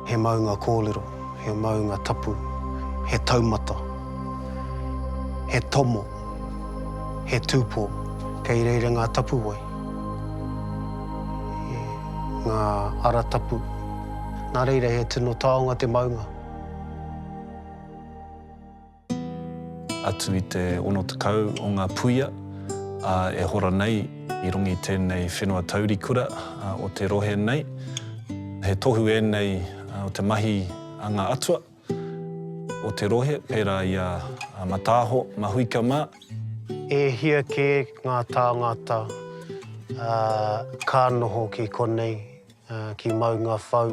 He maunga kōrero, he maunga tapu, he taumata, he tomo, he tūpō, kei reira ngā tapuwae, ngā ara tapu, nā reira he tino taonga te maunga. Atu i te 60 o ngā puia e hora nei i runga i tēnei whenua taurikura o te rohe nei. He tohu ēnei o te mahi a ngā atua o te rohe, pērā i a Mataaho Mahuika mā. E hia kē ngā tāngata ka noho ki konei, Ki Maunga Whau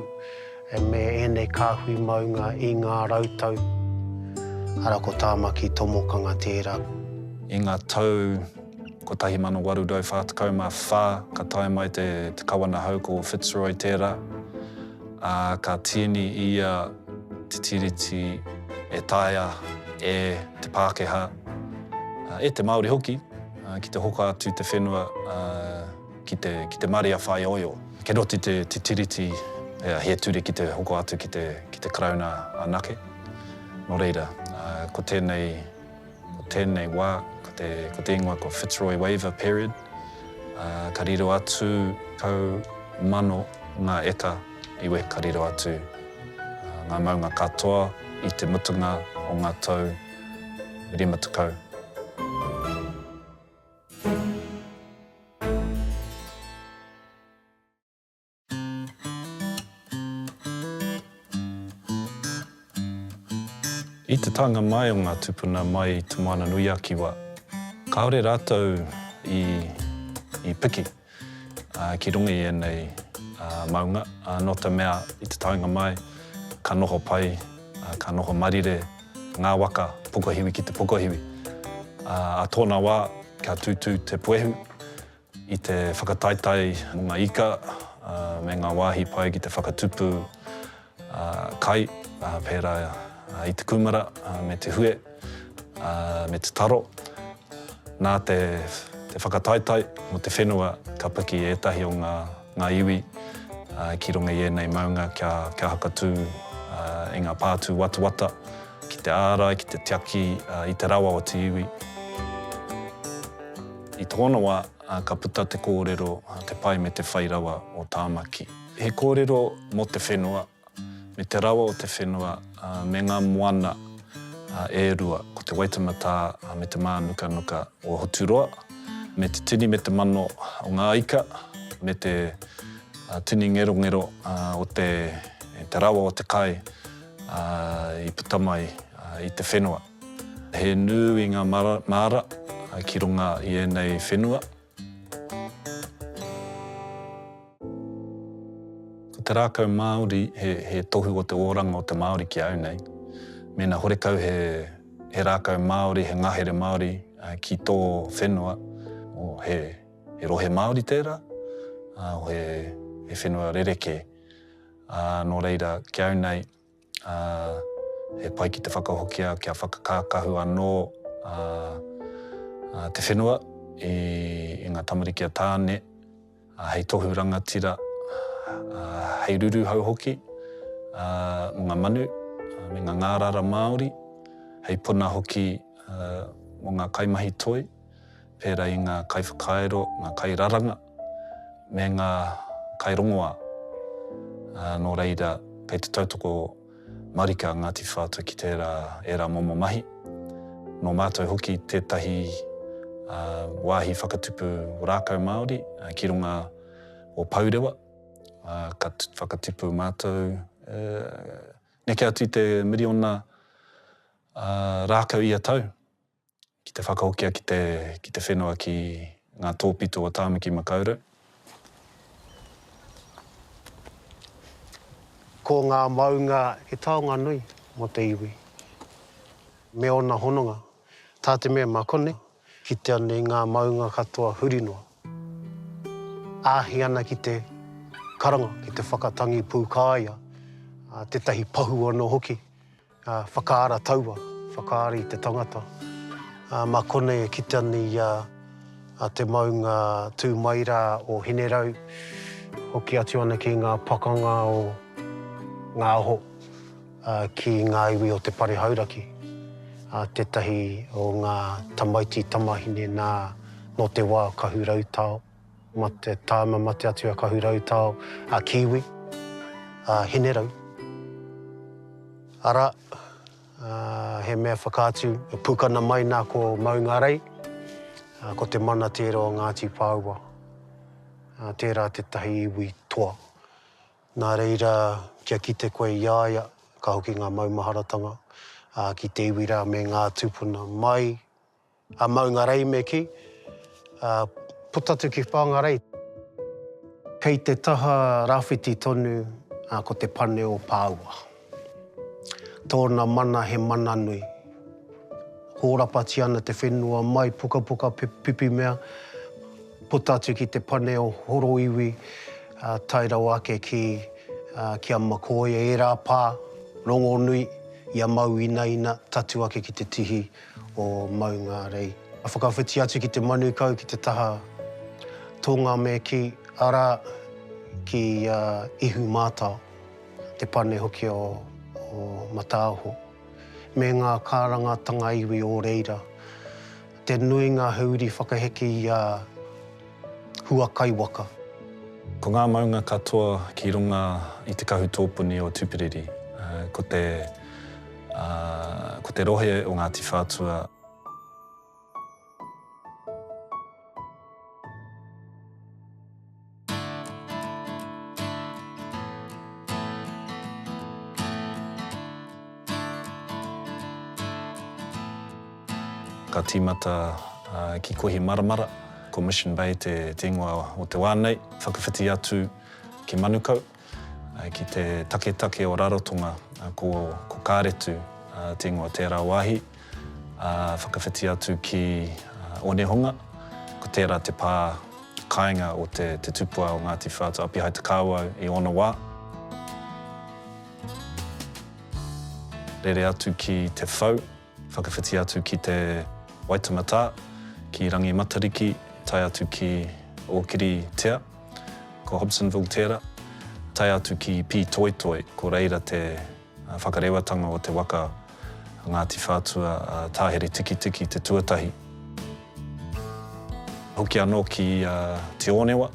me ēnei kāhui maunga i ngā rau tau, arā ko Tāmaki Tomokanga tērā. I ngā tau 1844 ka tae mai te Kawana hou ko Fitzroy tērā, ā, ka tīni ia te tiriti e taea e te Pākehā, e te Māori hoki, ki te hoka atu te whenua, ki te, ki te marea whāioio. Kei roto i te, te Tiriti he ture ki te hoko atu ki te, ki te Karauna anake. Nō reira, ko tēnei, ko tēnei wā, ko te, ko te ingoa ko Fitzroy Waiver Period, ka riro atu kau mano ngā eka iwi, ka riro atu ngā maunga katoa i te mutunga o ngā tau rima tekau. I te taenga mai o ngā tupuna mai i Te Moana-nui-a-Kiwa, kāore rātou i piki. ki runga i ēnei maunga, nō te mea i te taenga mai ka noho pai, ka noho marire ngā waka pokohiwi ki te pokohiwi. Ā tōna wā ka tūtū te puehu i te whakataetae mō ngā ika me ngā wāhi pai ki te whakatupu kai, pērā i te kūmara me te hue me te taro. Nā te whakataetae mō te whenua ka piki ētahi o ngā iwi ki runga i ēnei maunga kia hakatū i ngā pātū watawata ki te ārai, ki te tiaki i te rawa o te iwi. I tōna wā ka puta te kōrero Te Pai me te Whai Rawa o Tāmaki. He kōrero mō te whenua, me te rawa o te whenua, me ngā moana e rua, ko Te Waitematā me Te Mānukanuka o Hoturoa, me te tini me te mano o ngā ika, me te tini ngerongero o te rawa o te kai i puta mai i te whenua. He nui ngā māra ki runga i ēnei whenua. Ko te rākau Māori he tohu o te oranga o te Māori ki a au nei. Mēnā horekau he rākau Māori, he ngahere Māori ki tō whenua, he rohe Māori tērā, he whenua rerekē. Nō reira, ki au nei, Ā, he pai ki te whakahokia kia whakakākahu anō te whenua i ngā tamariki a Tāne hei tohu rangatira, hei ruruhau hoki mō ngā manu me ngā ngārara Māori, hei puna hoki mō ngā kaimahi toi. pērā i ngā kaiwhakairo, ngā kairaranga, me ngā kairongoā, ā, nō reira, kei te tautoko marika a Ngāti Whātua ki tērā, ērā momo mahi. Nō mātou hoki tētahi, ā, wāhi whakatupu rākau Māori ki runga o Pourewa, ā, ka whakatipu mātou, e, neke atu i te miriona, ā, rākau ia tau, ki te whakahokia ki te, ki te whenua ki ngā tōpito o Tāmaki Makaurau. Ko ngā maunga he taonga nui mō te iwi me ōna hononga. Tā te mea mā konei, kitea nei ngā maunga katoa huri noa, āhei ana ki te karanga, ki te whakatangi pūkāia, tētahi pahu anō hoki. Ā, whakaara taua, whakaara i te tangata. Ā, mā konei e kitea nei i a, a te maunga tū mai rā o Hinerau, hoki atu ana ki ngā pakanga o ngā aho, ā, ki ngā iwi o te Pare Hauraki, ā, tētahi o ngā tamaiti tamahine nā, nō te wā Kahurautao. Ma te tāma mate atu a Kahu Rautao, a Kiwi, a Hinerau. Arā, he mea whakaatu, e pukana mai nā ko Maungarei, ko te mana tērā o Ngāti Pāua. Tērā tētahi iwi toa. Nā reira, kia kite koe i a ia, ka hoki ngā maumaharatanga ki te iwi rā me ngā tūpuna mai, A Maungarei me kī, a puta atu ki Whangarei. Kei te taha rāwhiti tonu ko te pane o Pāua. Tōna mana he mana nui. Hōrapati ana te whenua mai pukapuka pipi mea, puta atu ki te pane o Horoiwi tae rawa ake ki ki a Makoia, ērā pā, rongonui, i a Mauinaina, tatu ake ki te tihi. o Maungārei. Ka whakawhiti atu ki te Manukau, ki te taha Tōngameki, arā, ki a Ihumātao, te pane hoki o Mataaho, me ngā kārangatanga iwi o reira. Te nuinga he uri whakaheke i a. hua kai waka. Ko ngā maunga katoa ki runga i te kahu tōpuni o Tupiriri, ko te, ā, ko te rohe o Ngāti Whātua. Ka tīmata ki Kohimaramara, ko Mission Bay te ingoa o te wā nei, whakawhiti atu ki Manukau, ki te taketake o Rarotonga, ko Kāretu te ingoa o tērā wāhi, ā, whakawhiti atu ki Onehonga, ko tērā te pā kāinga o te tupua o Ngāti Whātua Apihai-te-Kāwau i ōna wā. Rere atu ki Te Whau, whakawhiti atu ki Te Waitematā, ki Rangimatariki, tae atu ki Ōkiritea, ko Hobsonville tērā, tae atu ki Pītoitoi, ko reira te whakarewatanga o te waka a Ngāti Whātua a Tāhere-tikitiki te tuatahi. Hoki anō ki Te Ōnewa.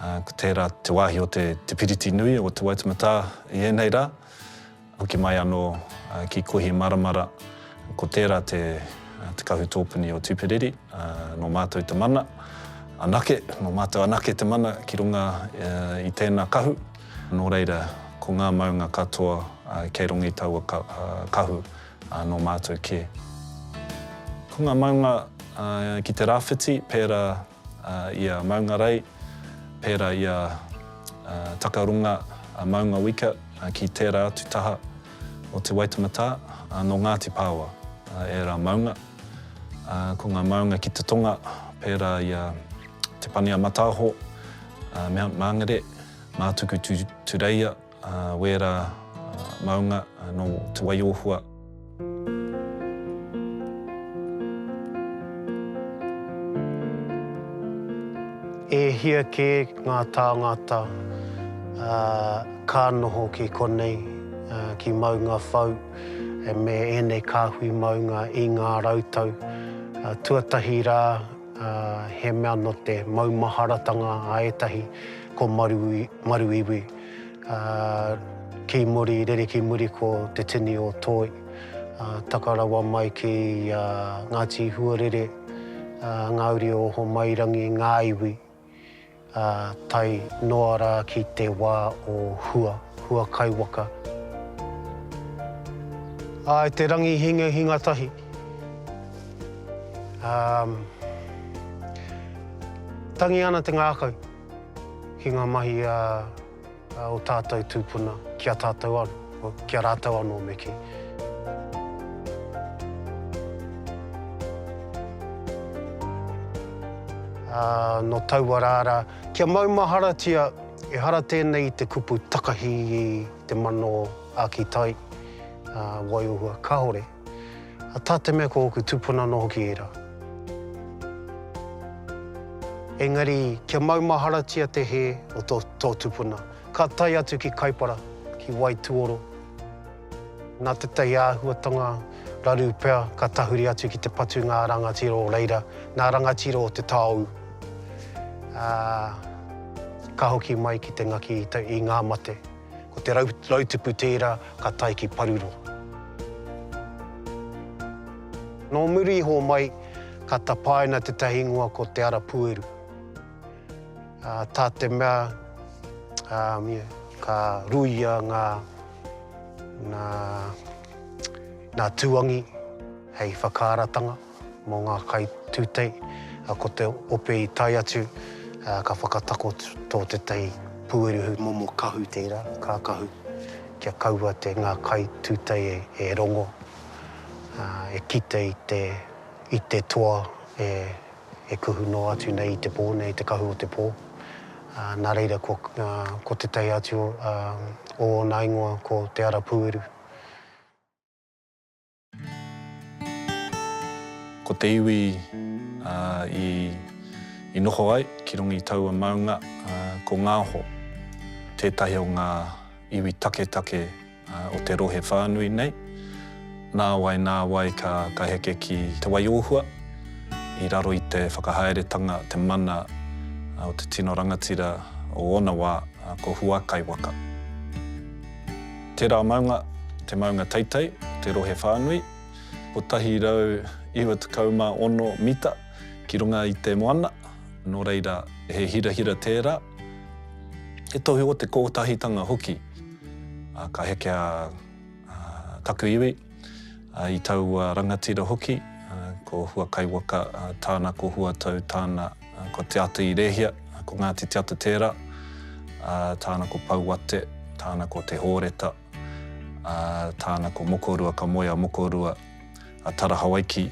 Ko tērā te wāhi o te piriti nui o Te Waitematā i ēnei rā, hoki mai anō ki Kohimaramara, ko tērā te kahu tōpuni o Tuperiri, nō mātou te mana anake, nō mātou anake te mana ki runga i tēnā kahu. Nō reira, ko ngā maunga katoa kei runga i taua kahu, nō mātou kē. Ko ngā maunga ki te rāwhiti, pērā i a Maungarei, pērā i a Takarunga, a Maunga Wika ki tērā atu taha o Te Waitematā, nō Ngāti Pāoa ērā maunga. Ko ngā maunga ki te tonga, pērā i a Te Pani-a-Mataaho, Mount Mangere, Mātuku-tu-Tureia, A wera maunga no Te Wai-o-Hua. E hia kē ngā tāngata ka noho ki konei, ki Maunga Whau, me ēnei kāhui maunga i ngā rautau tuatahi rā, he mea nō te maumaharatanga a ētahi ko Maruiwi. Ā, kī muri, rere ki muri ko te tini o Toi. Ā, taka rawa mai ki a Ngāti Huarere, ā, ngā uri o Homairangi, ngā iwi, ā, tae noa rā ki te wā o Hua, Hua Kaiwaka. Ā, e te rangi hingahinga tahi, ā, tangi ana te ngākau. ki ngā mahi o tātou tūpuna ki a tātou anō, ki a rātou anō me kī. Ā, nō taua rā rā, kia maumaharatia ehara tēnei i te kupu takahi i te mano āki tai, ā, waiorua kāore. A tā te mea ko ōku tupuna anō hoki ērā. Engari, kia maumaharatia te hē o tō, tō tupuna, ka tae atu ki Kaipara, ki Waituoro. Nā tētahi āhuatanga raru pea ka tahuri atu ki te patunga a Rangatira o reira, nā Rangatira o Te Taou, ā, ka hoki mai ki te ngaki i, i ngā mate. Ko te rautupu tērā ka tae ki Paruro. Nō muri iho mai ka tapaina tētahi ingoa ko Te Ara Pueru. Tā te mea ka ruia ngā tūangi hei whakaaratanga. Mō ngā kaitūtei, ko te ope i tae atu, ka whakatakoto tētahi pueruhu. Momo kahu tērā, kākahu, kia kaua te ngā kaitūtei e rongo, e kite i te toa e kuhu noa atu nei i te pō nei, te kahu o te pō. Nā reira, ko tētahi atu o ōna ingoa ko Te Ara Pūeru. Ko te iwi i noho ai ki runga i taua maunga ko Ngāho, tētahi o ngā iwi taketake o te rohe whānui nei. Nāwai, nāwai ka heke ki Te Waiōhua i raro i te whakahaeretanga, te mana o te tino rangatira o ōna wā, ko Huakaiwaka. Tērā maunga, te maunga teitei, te rohe whānui, 196 mita ki runga i te moana, nō reira, he hirahira tērā, he tohu o te kōtahitanga hoki. Ka hekea taku iwi, i taua rangatira hoki, ko Huakaiwaka tāna, ko Huatau tāna. Ko Te Ata i Rehia, ko Ngāti Te Ata tērā, tāna ko Pouate, tāna ko Te Hōreta, tāna ko Mokorua, ka moe a Mokorua, a Tara Hawaiki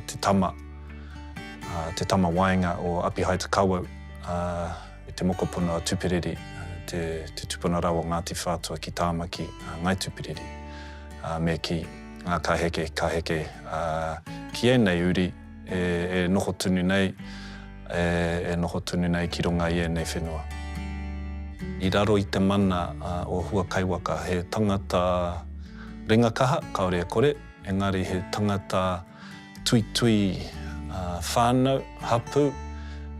te tama, te tama waenga o Apihai Te Kawau, me te mokopuna a Tupiriri, te tupuna rawa o Ngāti Whātua ki Tāmaki, a Ngai Tupiriri, me kī, ka heke, ka heke ki ēnei uri. e, e noho tunu nei, e, e noho tunu nei ki runga i ēnei whenua. I raro i te mana uh, o Hua Kaiwaka, he tangata ringa kaha, kaore e kore, engari he tangata tui tui uh, whānau, hapu,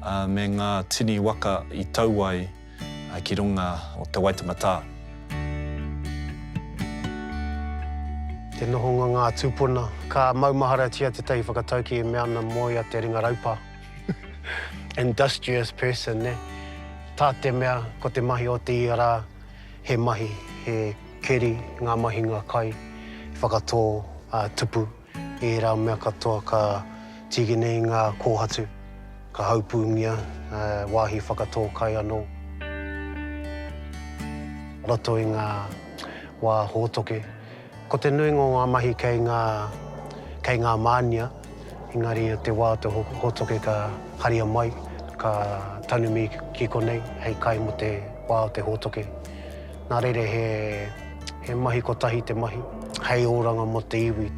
uh, me ngā tini waka i tau ai ki runga o Te Waitama Tā. Te nohonga ngā tūpuna. Ka maumaharatia te tahi whakatauki e mea ana moe a te ringa raupa. Industrious person, nē. Tā te mea, ko te mahi o te ia rā, he mahi, he keri ngā mahinga kai, whakatō, ā, tupu. I ērā mea katoa ka tige nei ngā kōhatu, ka haupūngia he wāhi whakatō kai anō i roto i ngā wā hōtoke. Ko te nuinga o ngā mahi kei ngā, kei ngā mānia, engari i te wā o te hōtoke ka haria mai, ka tanumi ki konei hei kai mō te wā o te hōtoke. Nā reira he, he mahi kotahi te mahi, hei oranga mō te iwi.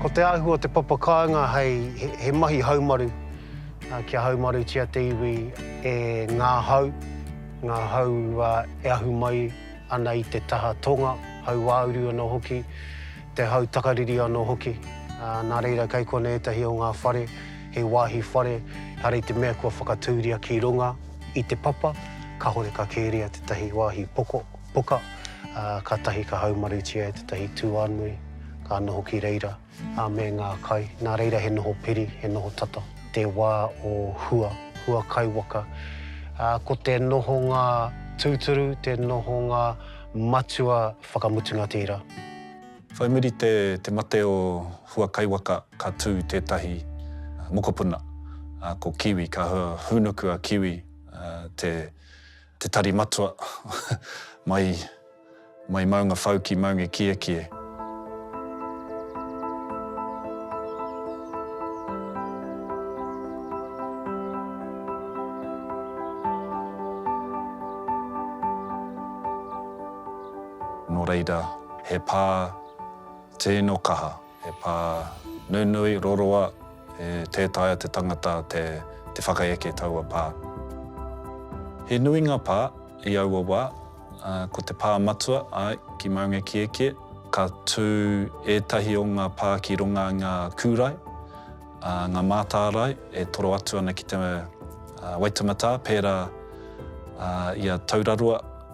Ko te āhua o te papakāinga hei, he mahi haumaru, kia haumarutia te iwi e ngā hau, ngā hau e ahu mai ana i te taha tonga, hauāuru anō hoki, te hau takariri anō hoki. Nā reira kei konei ētahi o ngā whare, he wāhi whare, ehara i te mea kua whakatūria ki runga i te papa, kāore ka kērea tētahi wāhi poko, poka, ā, kātahi ka haumarutia e tētahi tūānui ka noho ki reira, ā, me ngā kai, nā reira he noho piri, he noho tata. Te wā o hua, hua kaiwaka, ā, ko te nohonga tūturu, te nohonga matua whakamutunga tērā. Whai muri te te mate o Hua Kaiwaka ka tū tētahi mokopuna ko Kiwi, ka hūnuku a Kiwi te te tari matua mai mai Maungawhau ki Maungekiekie. Nō reira. He pā tino kaha, he pā nunui, roroa, e tē taea te tangata te whakaeke taua pā. He nui ngā pā i aua wā, ā, ko te pā matua, āe, ki Maungakiekie, ka tū ētahi o ngā pā ki runga i ngā kūrae, ā, ngā mātārae e toro atu ana ki te Waitematā, pērā i a Taurarua,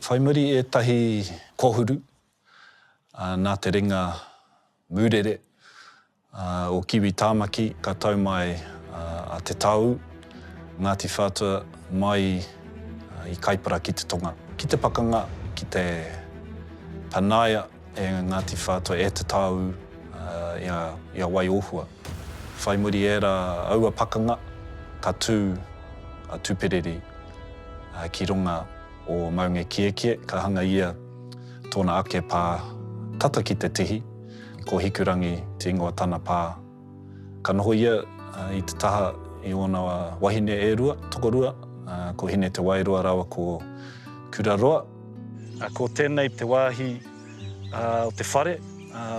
Whai muri ētahi kohuru nā te ringa mūrere o Kiwi Tāmaki ka tau mai a Te Taoū, Ngāti Whātua mai i Kaipara ki te tonga, ki te pakanga, ki te panaia e Ngāti Whātua, e Te Taoū i a Waiōhua. Whai muri ērā aua pakanga ka tū a Tuperiri ki runga. o Maunga Kiekie, ka hanga ia tōna ake pā tata ki te tihi, ko Hikurangi te ingoa tana pā. Ka noho ia i te taha i ōna wahine e rua, tokorua, ko Hine Te Waeroa rāua ko Kuraroa. Ko tēnei te wāhi o te whare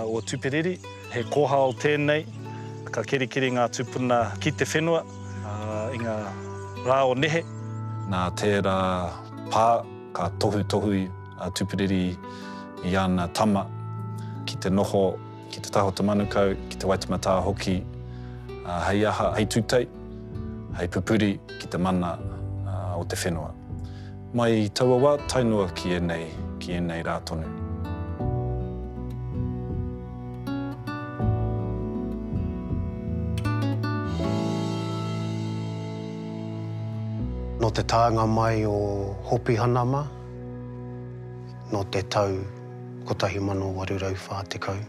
o Tuperiri. He kōhao tēnei, ka kerikeri ngā tūpuna ki te whenua i ngā rā o nehe. Nā tērā pā ka tohutohu a Tuperiri i ana tama ki te noho ki te taha o te manukau, ki te waitematā hoki, hei aha, hei tūtei, hei pupuri ki te mana o te whenua. Mai i taua wā tae noa ki ēnei, ki ēnei rā tonu. Nō te taenga mai o Hopihana mā, nō te tau 1840,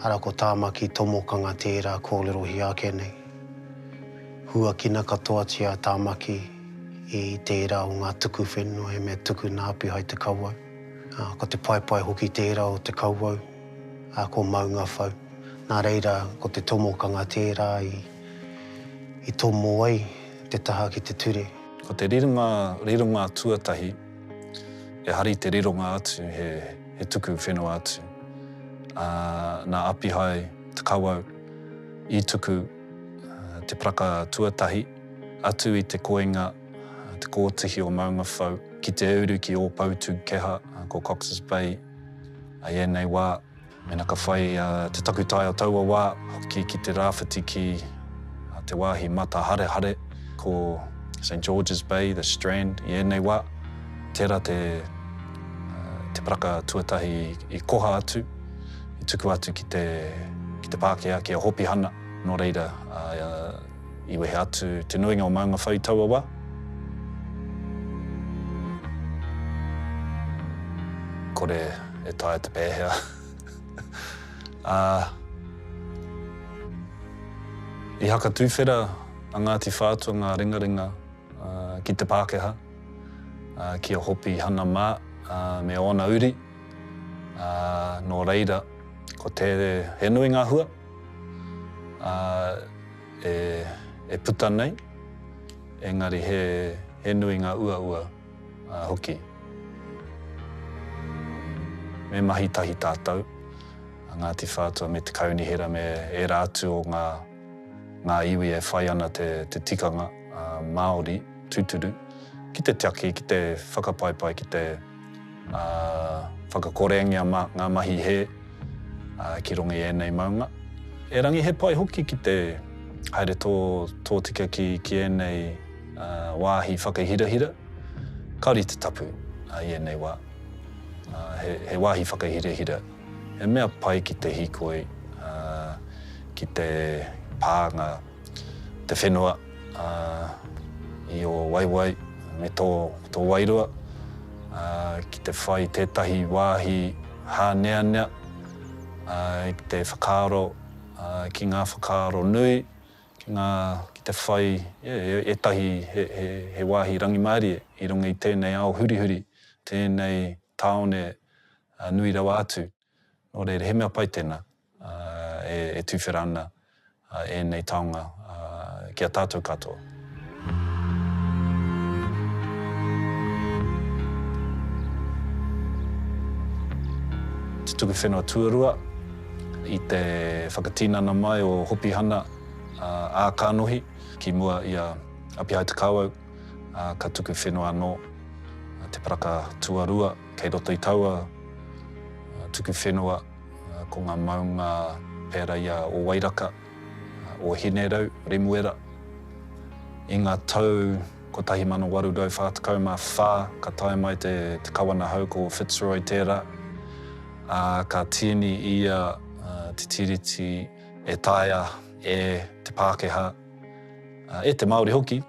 arā ko Tāmaki Tomokanga tērā kōrerohia ake nei. Huakina katoatia a Tāmaki, i tērā o ngā tuku whenua he mea tuku nā Api hai te kawau. Ā, ko te paepae hoki tērā o te kawau, ā, ko Maungawhau. Nā reira, ko te tomokanga tērā i, i tomo ai te taha ki te ture. Ko te rironga, rironga tuatahi, he hari te rironga atu, he, he tuku whenua atu. Ā, nā Api hai te kawau i tuku te paraka tuatahi. Atu i te koinga te kōtihi o Maungawhau ki te uru ki Ōpoutūkeha, ko Cox's Bay. I ēnei wā, mēnā ka whai te takutai o taua wā hoki ki te rāwhiti ki te wāhi mataharehare, ko St George's Bay, The Strand, i ēnei wā, tērā te paraka tuatahi i koha atu, i tukua atu ki te pākehā, ki a Hopihana, nō reira, I wehe atu te nuinga o Maunga Whau i taua wa. Kore e taea te pehea a. I haka tuwhera a Ngati Whātua nga ringaringa ki te Pakeha, ki a Hopi Hana ma me ona uri, no reira ko te he nui nga hua. ā, e puta nei, engari he nui ngā uaua hoki. Me mahi tahi tātou, a Ngāti Whātua me Te Kaunihera me ērā atu o ngā iwi e whai ana te tikanga Māori tūturu, ki te tiaki, ki te whakapaipai, ki te. ā, whakakorengia ma, ngā mahi hē, ā, ki runga i ēnei maunga. Erangi he pai hoki ki te haere tō, tōtika ki, ki ēnei, ā, wāhi whakahirahira. Kāore i te tapu, ā, i ēnei wā, ā, he, he wāhi whakahirahira, he mea pai ki te hīkoi, ā, ki te pānga. te whenua i ō waewae me tō wairua ki te whai tētahi wāhi hāneanea ki te whakaaro, ki ngā whakaaro nui, ki ngā, ki te whai ētahi he wāhi rangimārie i runga i tēnei ao hurihuri, tēnei tāone nui rawa atu. Nō reira, he mea pai tēnā e tuwhera ana ēnei taonga ki a tātou katoa. Te tuku whenua tuarua i te whakatinana mai o Hopihana ā Kanohi ki mua i a Apihaetekauau, ka tuku whenua anō te paraka tuarua. Kei roto i taua tuku whenua ko ngā maunga pērā i a Ōwairaka, Ōhinerau, Remuera. I ngā tau 1844 ka tae mai te kawana hou ko Fitzroy tērā, ā, ka tīni ia te tiriti e taea e te Pākehā, e te Māori hoki,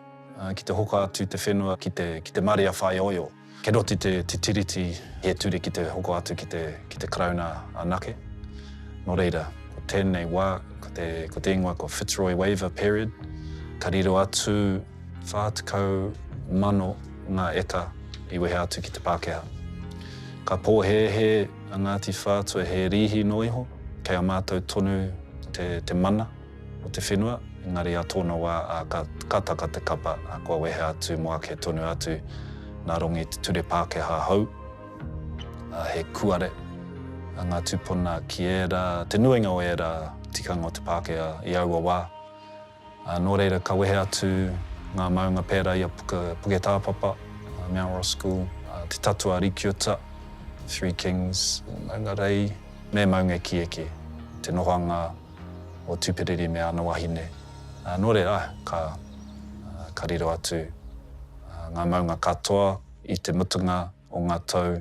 ki te hoka atu te whenua ki te marea whāioio. Kei roto i te Tiriti he ture ki te hoko atu ki te Karauna anake. Nō reira, ko tēnei wā, ko te ingoa ko Fitzroy Waiver Period, ka riro atu 40,000 ngā eka i wehe atu ki te Pākehā. Ka pōhēhē a Ngāti Whātua he rīhi noa iho, kei a mātou tonu te mana. o te whenua, engari a tōna wā a ka, ka taka te kapa, a kua wehe atu mo ake tonu atu nā Rongi te ture Pākehā hou, a he kuare, a ngā tūpuna ki ērā, te nuinga o ērā tikanga o te Pākehā i aua wā. A nō reira ka wehe atu ngā maunga pērā i a Puke, Puketāpapa, a Mount Roskill, a Te Tatu a Rikiuta, Three Kings, Maunga Rei, me Maunga Ekieki, te nohoanga o Tuperiri me ana wahine. Nō reira, ka riro atu ngā maunga katoa i te mutunga o ngā tau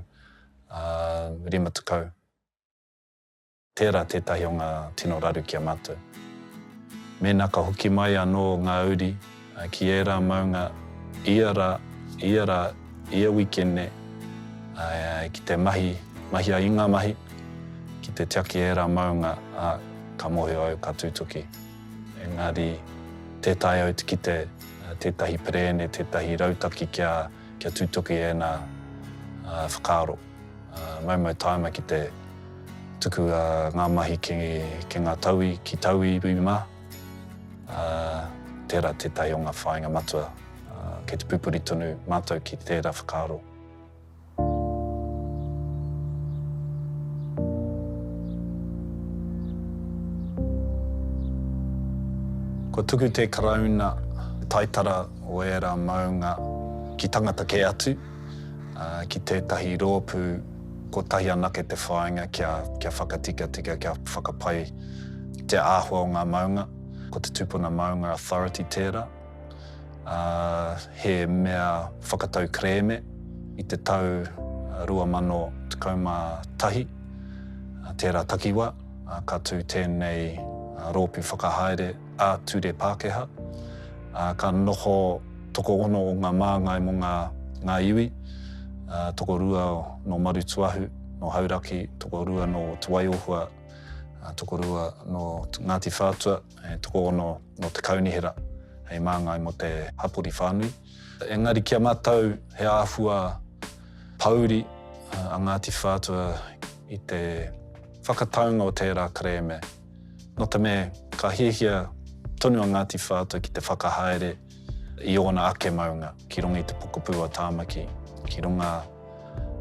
rima tekau. Tērā tētahi o ngā tino raru ki a mātou. Mēnā ka hoki mai anō ngā uri, Ā, ki ērā maunga, ia rā, ia rā, ia wikene, ā, ki te mahi, mahia i ngā mahi, ki te tiaki ērā maunga, ā, ka mōhio au ka tūtuki. Engari, tē taea au te kite tētahi perēne, tētahi rautaki kia, kia tūtuki ēnā, ā, whakaaro. Ā, maumau tāima ki te tuku, ā, ngā mahi ki, ki ngā tauwi, ki tauwi, iwi mā. Ā, tērā tētahi o ngā whāinga matua kei te pupuri tonu mātou ki tērā whakaaro. Kua tuku te Karauna taitara o ērā maunga ki tangata kē atu. ki tētahi rōpū kotahi anake te whāinga kia, kia whakatikatika, kia whakapai te āhua o ngā maunga. Ko te Tūpuna Maunga Authority tērā, ā, he mea whakatau kerēme i te tau 2011, tērā takiwā, ka tū tēnei rōpū whakahaere, ā-ture Pākehā, ā, ka noho tokoono o ngā māngai mō ngā, ngā iwi, ā, tokorua nō Marutūahu, nō Hauraki, tokorua nō Te Waiohua, ā, tokorua nō Ngāti Whātua, ā, tokoono nō Te Kaunihera hei māngai mō te hapori whānui. Engari ki a mātou he āhua pōuri a Ngāti Whātua i te whakataunga o tērā kerēme. Nō te mea, ka hiahia tonu a Ngāti Whātua ki te whakahaere i ōna ake maunga ki runga i te pokapū a Tāmaki, ki runga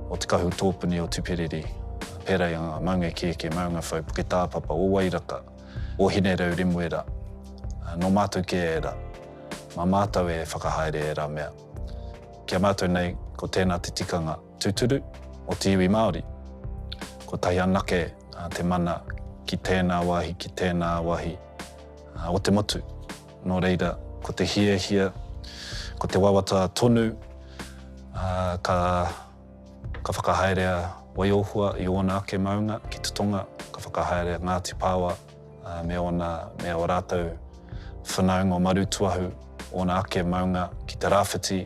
o te kahu tōpuni o Tuperiri, pērā i a Maunga Kēkē, Maunga Whau, Puketāpapa, o Wairaka, o Hinerau Remuera, nō mātou kē ērā. Mā mātou e whakahaere ērā mea. Ki a mātou nei, ko tēnā te tikanga. Tūturu o te iwi Māori. Kotahi anake te mana ki tēnā wāhi, ki tēnā wāhi o te motu. Nō reira, ko te hiahia, ko te wawata tonu ka whakahaerea Waiohua i ōna ake maunga ki te tonga, ka whakahaerea Ngāti Paoa me ōna, me ō rātou whanaunga o Marutūahu, ōna ake maunga ki te rāwhiti,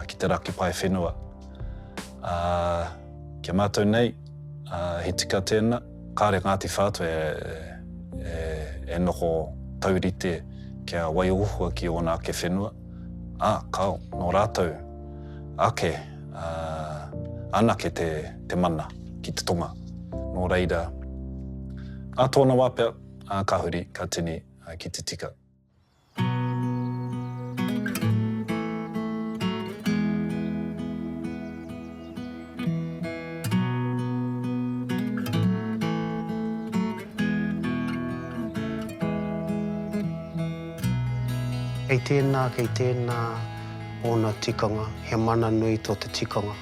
ki te raki pae whenua. Ā, ki a mātou nei, he tika tēnā, kāre Ngāti Whātua e noho taurite kia waihohoa ki ōna ake whenua. Ā, kāo, nō rātou ake, ā, anake te, te mana ki te tonga. Nō reira, ā tōna wā pea, ā, ka huri, ka tini, ā, ki te tika. Kei tēnā, kei tēnā ōna tikanga, he mana nui tō te tikanga.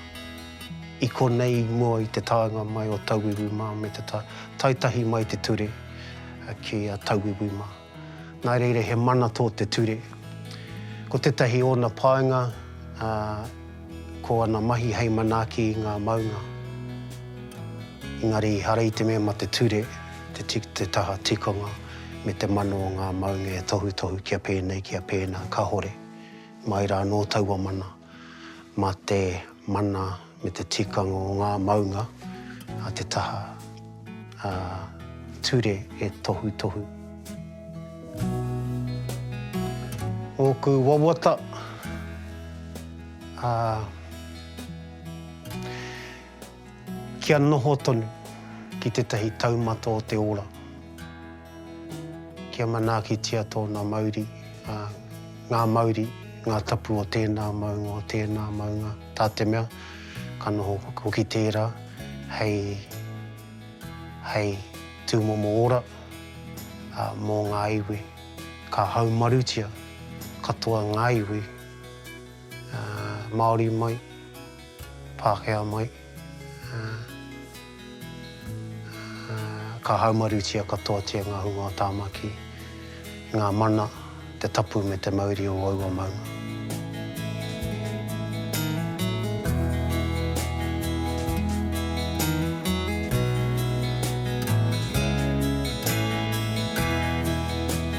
I konei mua i te taenga mai o Tauwiwi mā me te tae tahi mai te ture ki a Tauwiwi mā. Nā reira he mana tō te ture. Ko tētahi ōna painga, ā, ko ana mahi hei manaaki i ngā maunga. Engari, ehara i te mea ma te ture te, te taha tikanga me te mano o ngā maunga e tohutohu kia pēnei, kia pēnā, kahore. Mai rā anō taua mana. mā te mana me te tikanga o ngā maunga a te taha ture e tohutohu. Ōku wawata, ā. Kia noho tonu ki tētahi taumata o te ora, kia manaakitia tōna mauri, ā, ngā mauri, ngā tapu o tēnā maunga, o tēnā maunga, tā te mea, ka noho hoki tērā hei, hei tūmomo ora, ā, mō ngā iwi. Ka haumarutia katoa ngā iwi, ā, Māori mai. Pākehā mai, ā, ā, ka haumarutia katoatia ngā hunga o Tāmaki, i ngā mana, te tapu me te mauri o aua maunga.